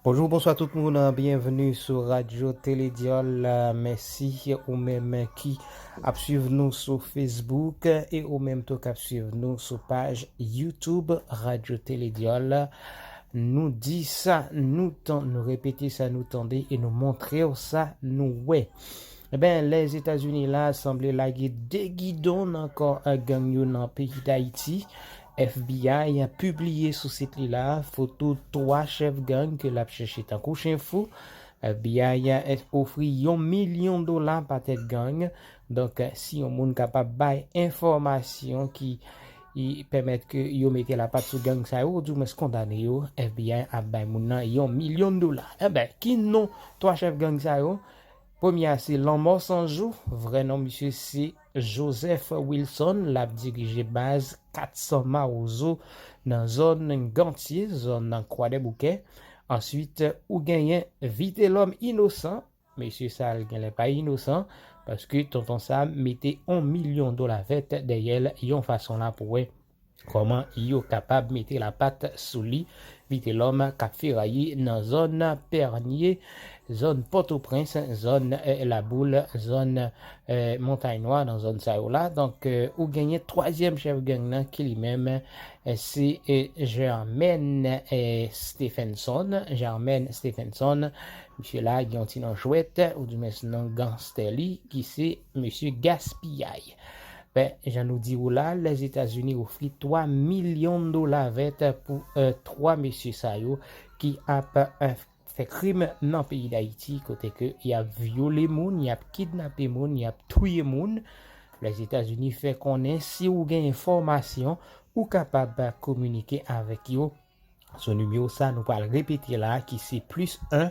Bonjou, bonswa tout moun an, byenveni sou Radyo Teledyòl. Mèsi ou menm ki ap swiv nou sou Facebook e ou menm tou k ap swiv nou sou paj YouTube Radyo Teledyòl. Nou di sa nou tan, nou repete sa nou tande e nou montre ou sa nou wè. Eben, Lèzetazini la sanble lage de gidon nan kò gang yo nan peyi Dayiti. FBI pibliye sou sit li la foto 3 chèf gang ke lap chèche tankou chen fou. FBI ofri yon milyon dola pa tèt gang. Donk si yon moun kapab bay enfòmasyon ki pèmèt ke yo mete lapat sou gang sa yo ou di mwens kondane yo, FBI ap bay moun nan yon milyon dola. Enben, ki non 3 chèf gang sa yo? Premye a se Lanmò Sanjou, vrè non misye se. Joseph Wilson l ap dirije baz 400 Mawozo nan zòn Gantye, zòn Kwadèboukè. Answit ou genyen Vitelòm Inosan, mesye sa l genlè pa inosan paske Tonton Sam mete on milyon dola vèt dèyè l yon fason la pou wè. Kòman yo kapab mete lapat sou li? Vitelòm k ap feraye nan zòn Pènye, zòn Pòtoprens, zòn Laboul, zòn Montay Nwa, nan zòn sa yo la. Donk, ou genyen twazyèm chèf gang nan ki li menm se Germaine Stephenson. Germaine Stephenson, misye la gen yon ti non jwèt, oudimwens non ganstè li ki se. Mesye gaspiyay. Ben jan nou di ou la, Lèzetazini ofri 3 milyon dola vèt pou 3 mesye sa yo ki ap fè krim nan peyi Dayiti kote ke y ap vyole moun, y ap kidnape moun, y ap touye moun. Lèzetazini fè konnen si ou gen enfòmasyon ou kapab kominike avèk yo sou nimewo sa nou pral repete la ki se plis 1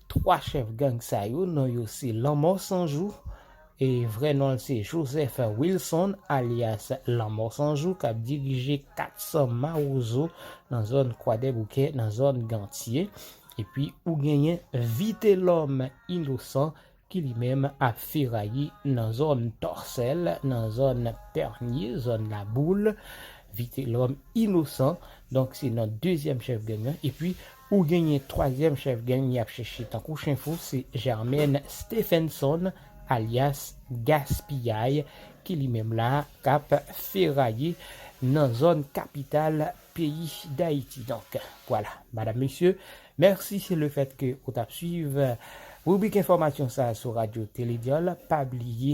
3 chèf gang sa yo non yo se Lanmò Sanjou, vrè non l se Joseph Wilson alyas Lanmò Sanjou k ap dirije 400 Mawozo nan zòn Kwadèboukè nan zòn Gantye epi ou genyen Vitelòm Inosan ki li menm ap feraye nan zòn Tòsèl nan zòn Pènye zòn Laboul Vitelòm Inosan donk se non dezyèm chèf gang lan epi Ou genyen twazyèm chèf gang yap chèche tankou chen fou se Germaine Stephenson alyas Gaspiyay ki li menm la kap feraye nan zòn kapital peyi Dayiti donk vwala madam mesye mèsi le fèt ke ou tap swiv ribrik enfòmasyon sa sou radyo tele dyòl pa bliye